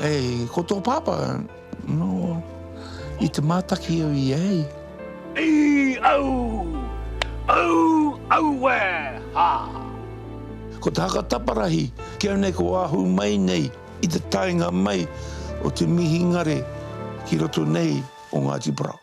Hei, ko tō pāpā, nō, i te mātaki au i ahei. Ii, Au! Au! Aue! Haa! Ko te haka taparahi, kīa nei ko ahu mai nei i te taenga mai o te mihingare ki roto nei o Ngāti Porou.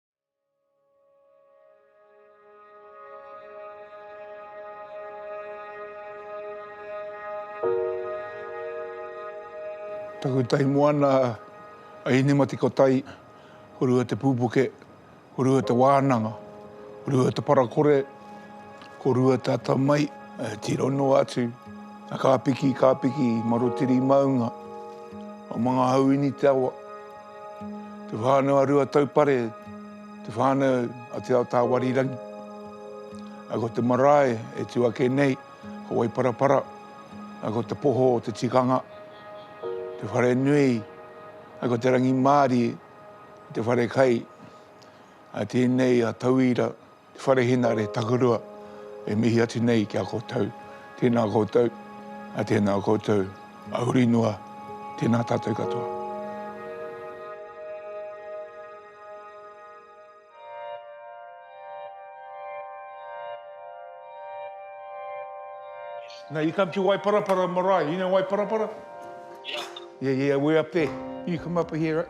Taku tahi moana a Hinematikotai, ko Rua Te Pupuke, ko Rua Te Wānanga, ko Rua Te Parakore, ko Rua Te Atamai, e tiro noa atu, a Kāpiki, Kāpiki, Marotiri Maunga, o Mangahauini te awa. Te whānau a Ruataupare, te whānau a Te Ao Tāwarirangi. A ko te marae e tū ake nei, ko Waiparapara, a ko te poho o te tikanga, te whare nui, a ko te rangimārie, te whare kai, a tēnei a Tauira, Te Whare Hinare Takurua e mihi atu nei ki a koutou. Tēnā koutou, a tēnā koutou, a uri noa, tēnā tātou katoa. Now you come to Waiparapara marae. You know Waiparapara? Yeah. Yeah, yeah, we're up there. You come up here.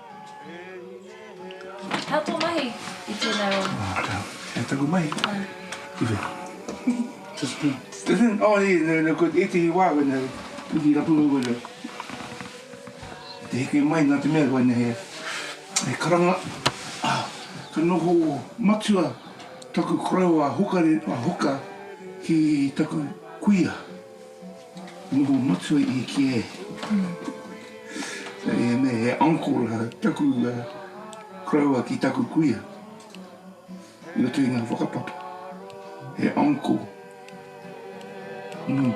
Hea tō mahi i tēnei wā? Hea taku mahi? Ki whea? To spin. To spin? Oh, yeah, no, no, ētehi wā, wena, mihi rapu au, wena. Te heke mai nā te mea, wena, he, he karanga, ah, ka noho matua taku korero a Hoka, a Hoka ki taku kuia. Noho matua i ki e. He me he uncle a taku uh, koroua ki taku kuia. I roto i ngā whakapapa. He uncle. Mm.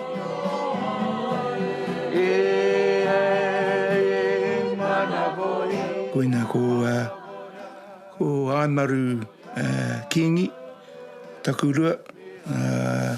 Koina ko, uh, ko Aimaru uh, Kingi, taku rua. Uh,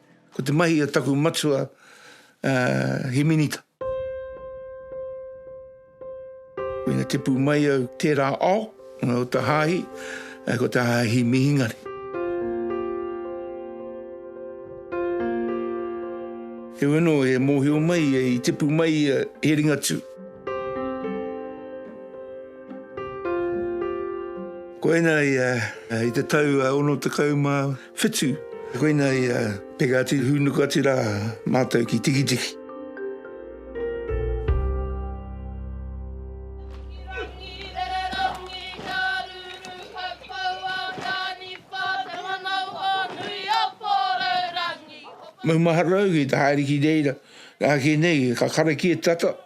Ko te mahi o taku matua he minita. Ina tipu mai au tērā ao, o te hāhi, ko te hāhi mihingare. He weno e mōhio mai e i tipu mai ia he ringatū. Koina ia i te tau ono tekau mā. whitu. Koina ia, peka atu, hūnuku atu rā mātou ki Tikitiki. Maumaharanui, te haere ki reira, ake nei, ka karakia tata.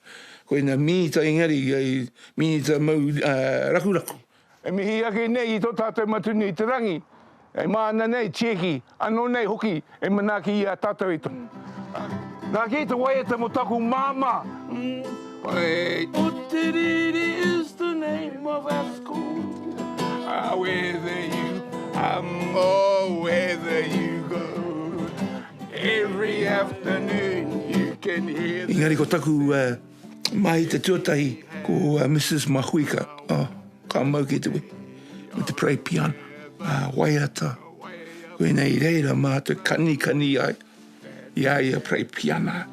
Koe na Minita engari kai Minita mau rakuraku. E mihi ake nei i tō tātou Matunui i te Rangi, e māna nei, tieki, anō nei hoki e manaaki i a tātou e tono. Nā kē te waiata mō taku māmā. Otiriri is the name of our school. Whether you come or whether you go. Engari ko taku mahi te tuatahi ko Mrs. Mahuika, oh, ka mau kei te wehi, me te pray piano, ah, waiata, koinei reira mātou kanikani ai i a ia pray piana.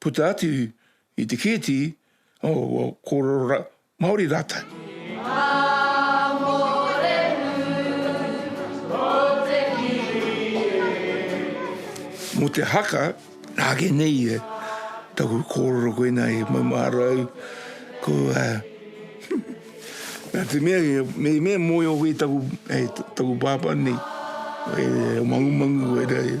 puta atu i te kēti, oh, kōrero Māori rātou. Mō te haka, nāke nei e, taku kōrero koina e maumahara au, ko a... Nā te mea, me mea mōio koe taku, e, taku pāpā nei, e, mangumangu koe rā e.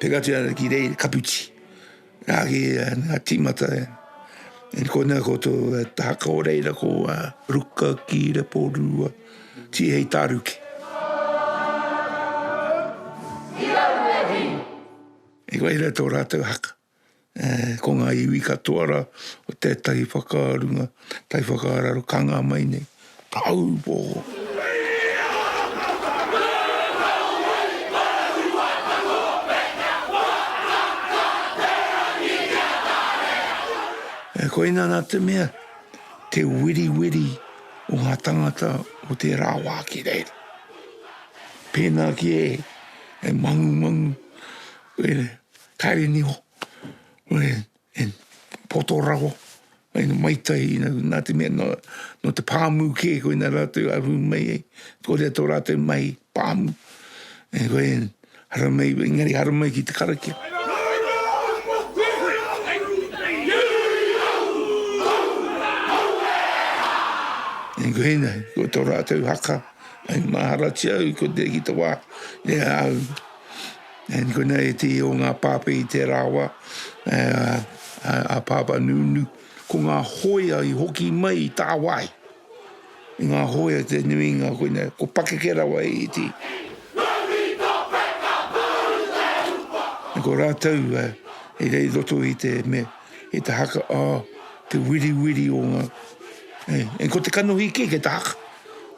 Peka atu ana ki reira kaputi. Rā ki ngā tīmata e. E ko nā koutou e tahaka o reira ko a Ruka ki Repo Rua. Ti hei tāruke. E koe reira tō rātou haka. Ko ngā iwi katoa rā, ko tētahi whakarunga, tētahi whakaararo ka ngā mai nei. Taupō! Koina nā te mea, te weriweri o ngā tangata o tērā wā ki reira. Pēnā ki e, e mangumangu, Kāre niho, e poto rawa, mai tai, nā te mea nō te pāmu kē koe nā rātou aru mai ai, kōrero tō rātou mahi pāmu, koe hara mai, engari hara mai ki te karakia. Koe nei, ko tō rātou haka, maharatia au, koe nei ki te wā, e au. And koina e te o nga pape i te rawa a papa nunu. Ko nga hoia i hoki mai i tawai. Nga hoia te nuinga koina ko pakeke rawa e iti. And ko ratou i rei roto i te me i te haka a te wiri wiri o nga. And ko te kanohi ke ke ta haka.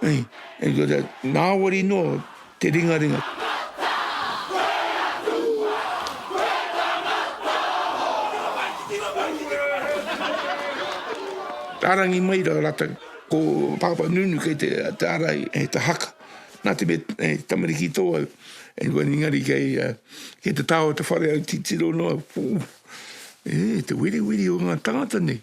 And ko te nawari no. Te ringaringa. Arangi mai ra ratou. Ko Papa Nunu kei te ara e ta haka. Na te mea e tamariki to au. Engari kei te ta o te whare au titiro no au. E te wiriwiri o nga tangata nei.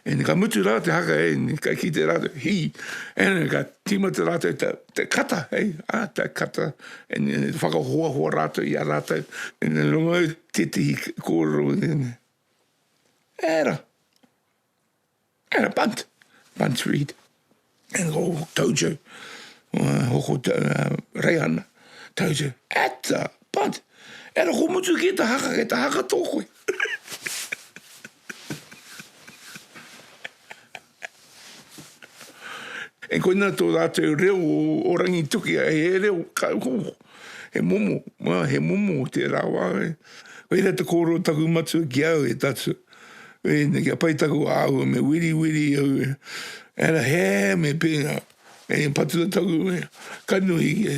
Eni ka mutu ra te haka e ni ka kite ratou. Hi. Eni ka timata ratou ta. te kata, hei, ā, te kata, whakahoahoa rātou i a rātou, ina runga i tētahi kōrero i tēnei. Era. Era bunt. Bunt read. And go tojo. Uh, hoko te uh, reihana. Tojo. Ata. Bunt. Era ko mutu ki ta haka, ki ta haka tō koe. E koina tō rātou reo o Rangitukia, he reo kāuho, he momo, mā, he momo o tērā wā. Koira te kōrero taku matua ki au e tatu. Koina kia pai taku āhua me wiriwiri au e. Era hē me pēnā, e patua taku kanohi e.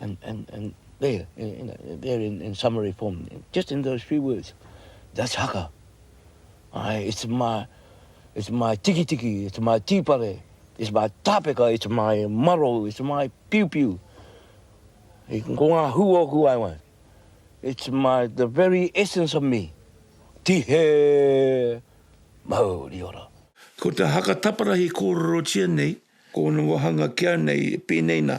And, and, and there, in, in, there in, in summary form, just in those few words, that's haka. I, it's my, it's my tiki tiki, it's my tīpare, it's my tāpeka, it's my maro, it's my piu piu. I can go on who or who I want. It's my, the very essence of me. Tihe Maori ora. Ko te haka taparahi kōrerotia nei, ko ōna wāhanga kia nei, pēnei nā.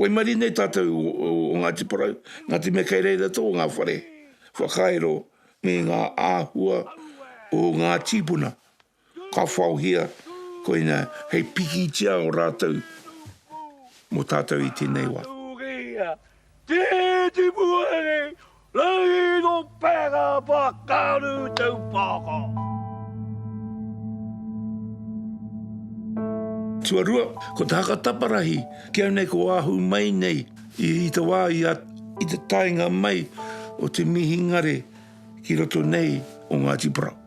Waimarie nei tātou o Ngāti Porou, Ngāti Mea kei reira tō ngā whare whakairo me ngā āhua o ngā tīpuna ka whaohia koinā hei pikitia o rātou mō tātou i tēnei wā. Tēnei wā. Rino Peka Pakaru Taupoko. Tuarua, ko te haka taparahi, ki au nei ko ahu mai nei i, i te wā i, a, i te taenga mai o te mihingare ki roto nei o Ngāti Porou.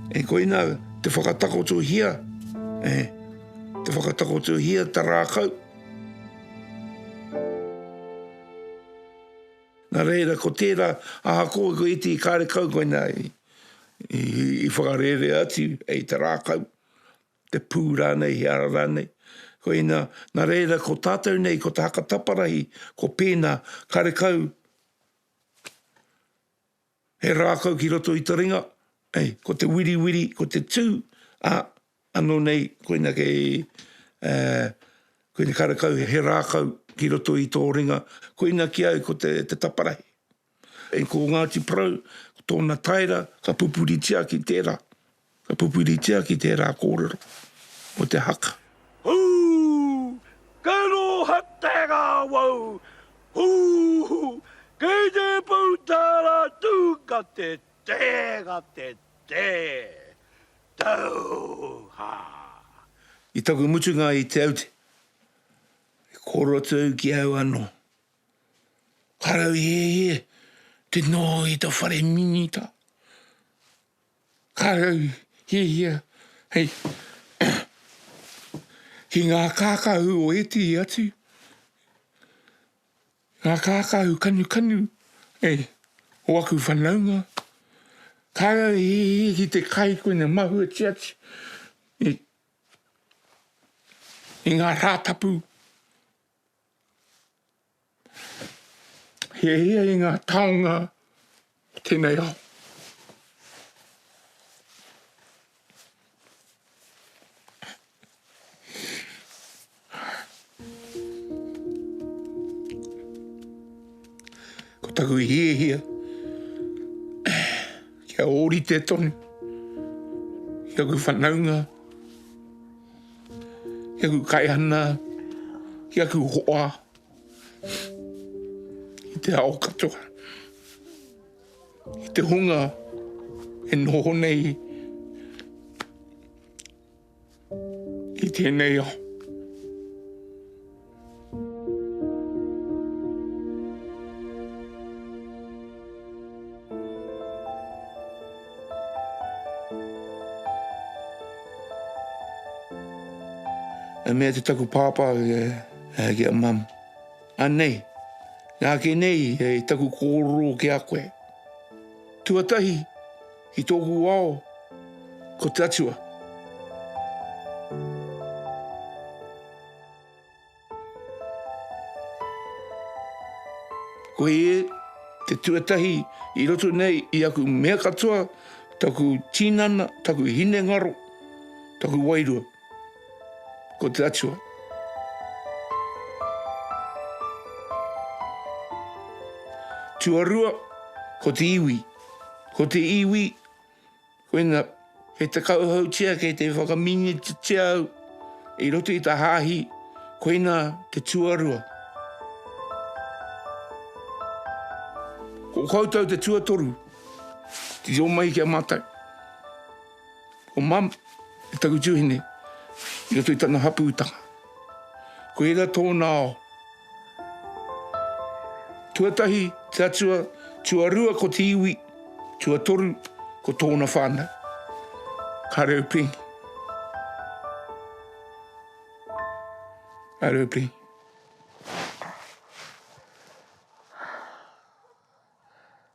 E koina te whakatakotohia, e, te whakatakotohia ta rākau. Nā reira, ko tērā, aha ko, ko iti i kāre kau koina i, i, i whakarērea atu, e, i te rākau. te pū rānei, he ara rānei. Koina, nā reira, ko tātou nei, ko te haka taparahi, ko pēnā, karekau he rākau ki roto i te ringa, ei, ko te wiriwiri, ko te tū, a, anō nei, koina kei, e, koina karekau he rākau ki roto i tō ringa, koina ki au ko te, te taparahi. E ko Ngāti Porou, ko tōna taera ka pupuritia ki tērā, ka pupuritia ki tērā kōrero mō te haka. Hū! Ka rōhata ngā wau! Hū! Kei te pau tā rātou gate tē, gate tē! Tauhā! I taku mutunga i Te Aute, e kōrero atu au ki au anō. Karauhehe te noho i ta whare minita. Karauhehia hei ki nga kakahu o etihi atu, nga kakahu kanukanu ei o aku whanaunga. Karauhehe ki te kai koe na mahue tia atu i nga ratapu. Hiahia i ngā taonga o tēnei ao. Ko taku hiahia, kia ōrite tonu, kia ku whanaunga, ki aku kaihana, ki aku hoa, i te ao katoa, i te hunga e noho nei i tēnei ao. E mea te taku pāpā e, e ki a mam. Anei, nā ke nei e taku kōroro ki a koe. Tuatahi, ki tōku ao, ko te atua. Koe e te tuatahi i roto nei i aku mea katoa, taku tinana, taku hinengaro, taku wairua. Ko te Atua. Tuarua, ko te iwi. Ko te iwi, Koina, kei te kauhautia, kei te whakaminititia au i roto i ta hāhi, koina te tuarua. Ko koutou te tuatoru, te reo mai ki a mātou. Ko mam, taku tuhine, i roto i tana hapūtanga. Koira tōna ao. Tuatahi te atua, tuarua ko te iwi, tuatoru ko tōna whānau. Ka reo pēngi. Ka reo pēngi.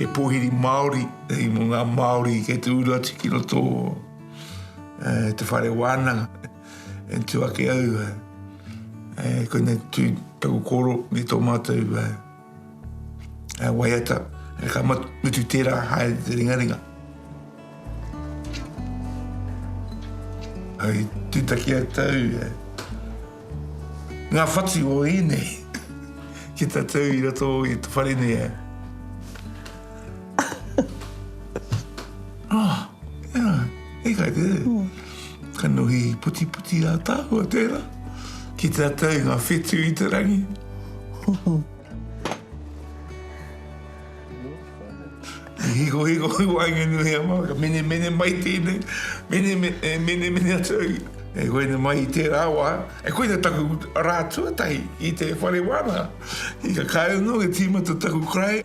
He pōhiri Māori, hei mō ngā Māori kei te uru atu ki roto eh, te whare wānanga. E tū ake au, eh, eh, koina tū taku koro me tō mātou eh, He waiata, he ka mutu tērā haere te ringaringa. Hei tūtaki a tau, ngā whatu o ēnei ki ta tau i roto i te whare nei. Ah, tēnā, e kai te reo. Mm. Ka nuhi puti puti a tāua tēnā. Ki te atau ngā whetū i te rangi. Hiko hiko i wāinga nuhi a māka. Mene mene mai tēnei. Mene mene, eh, mene mene atu. E koe ne mai i tērā wā. E koe ne taku rā tuatahi i te whare wāna. I ka kāre nō e tīmata taku krai.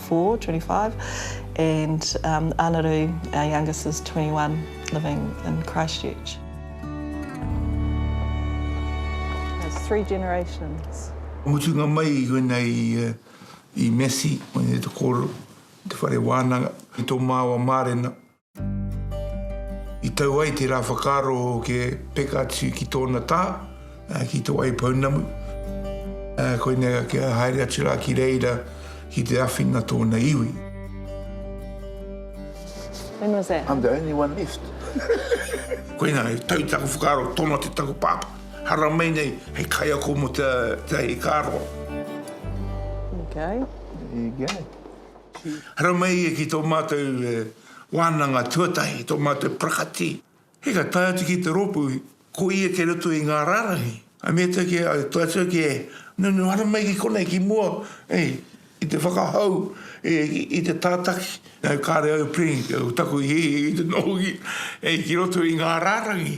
24, 25, and um, Anaru, our youngest, is 21, living in Christchurch. That's three generations. Mutunga mai i wena i, uh, i Messi, i te kōrero, te whare wānanga, i tō māua mārena. I tau ai te rā whakaaro o ke peka atu ki tōna tā, ki Te Wai Pounamu. Koinei a kia haere atu rā ki reira ki te awhina tōna iwi. When was that? I'm the only one left. Koinā, he tau taku whakaaro, tono atu taku pāpā. Haramai nei, hei kaiako mō te hei kāro. There you go. There you go. haramai ki tō mātou wānanga tuatahi, tō mātou parakati. Hei ka tae atu ki te rōpū, ko ia kei roto i ngā rārangi. I mea atu ki a tātou ki e nunu haramai ki konei, ki mua, i te whakahou, i te tātaki. Nau kāre au Preen, ko taku hihi i te noho ki roto i ngā rārangi.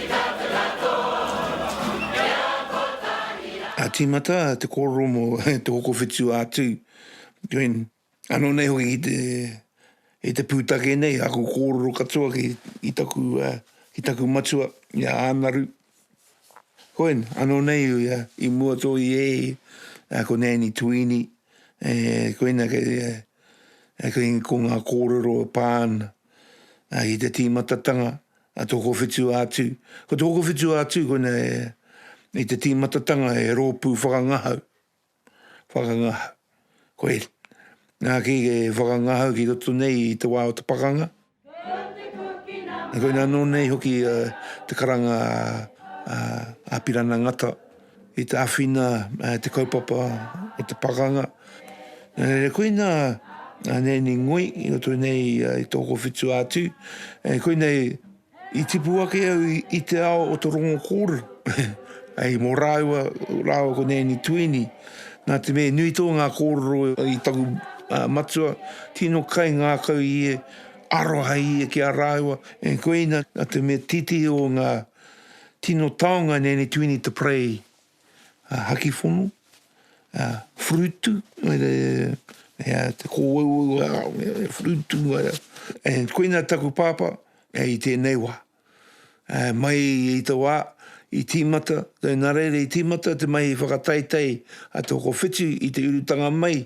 A tīmata te kōrero mō te hoko whitu atu. Gwen, Anō nei hoki ki te, i te pūtake nei, aku kōrero katoa ki, ki taku, uh, ki taku matua, i a Ānaru. Gwen, Anō nei, uh, i mua tō i e, uh, ko Nēni Tuini, e, koina kei, uh, kei ko ngā kōrero e pā ana. Ā, i te tīmatatanga a tō kōwhitu ā-tū, ko tō kōwhitu ā-tū koina e, i te tīmatatanga e rōpū whakangahau, whakangahau, koe, nā, ki e whakangahau ki roto nei i te wā o te pakanga, koina anō nei hoki te karanga a Pirana Ngata, I te awhina te kaupapa o te pakanga. Nā reira koina a Neni Ngoi i roto nei i tō kowhitu atu. E koina i tipu ake au i te ao o te rongo kōrero. Hei mō rāua, rāua ko Neni Tuini. Nā te mea nui tō ngā kōrero i taku matua, tino kai ngākau ia, aroha ia ki a rāua. E koina, nā te mea titi o ngā Tino taonga nei ni tuini te parei a hakifono, a frutu, e a te kowau, e frutu, e koina taku papa, e i tenei wa. E mai i te wa, i timata, te nareire i timata, te mai i whakataitai a te hoko whitu i te urutanga mai,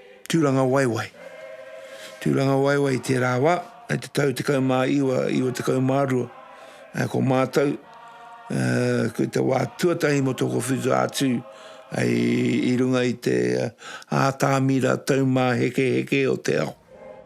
Tūrangawaewae. Tūrangawaewae i tērā wā, i te tau 19, 92, ko mātou, ko i te wā tuatahi mō tōku whitu atu i runga i te ātāmira taumāhekeheke o te ao.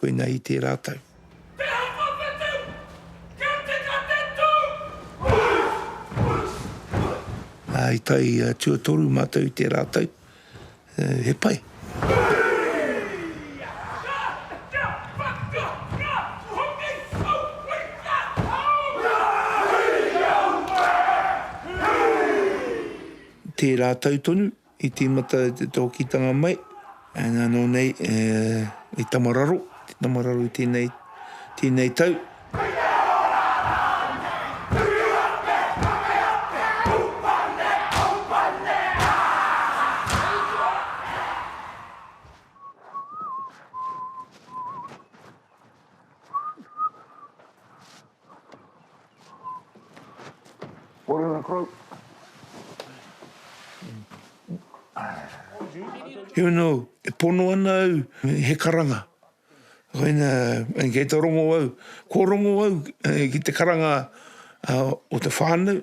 Koinei i tērā tau. Te haka whetū! Kia tika te tū! Push! Push! Push! Ā, i tai tuatoru mātou i tērā tau. He pai. Tērā tau tonu, I tīmata te tōkītanga mai, nā nō nei i tamararo, te tamararo i tēnei, tēnei tau. Here now, e pono ana au he karanga. Koina, kei te rongo au, kua rongo au ki te karanga o te whānau.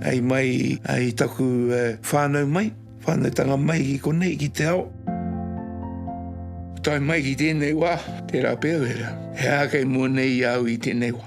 Hei mai i taku whānau mai, whānautanga mai i konei ki te ao. Tae mai ki tēnei wā, tērā pea wera, he aha kei mua nei i a au i tēnei wā?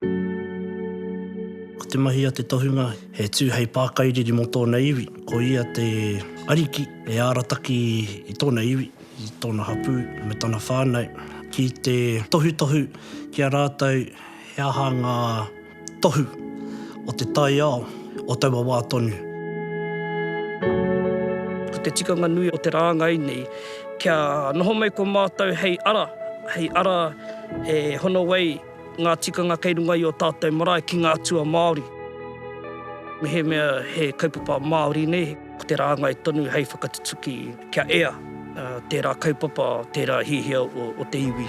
Ko te mahi a te tohunga, he tū hei pākairiri mō tōna iwi. Ko ia te ariki e arataki i tōna iwi, i tōna hapū me tana whānau ki te tohutohu ki a rātou he aha ngā tohu o te taiao o taua wā tonu. Ko te tikanga nui o te rāngai nei, kia noho mai ko mātou hei ara, hei ara e hono ai. ngā tikanga kei runga i ō tātou marae ki ngā atua Māori. Mehemea he kaupapa Māori nei, ko te rāngai tonu hei whakatutuki kia ea tērā kaupapa, tērā hiahia o te iwi.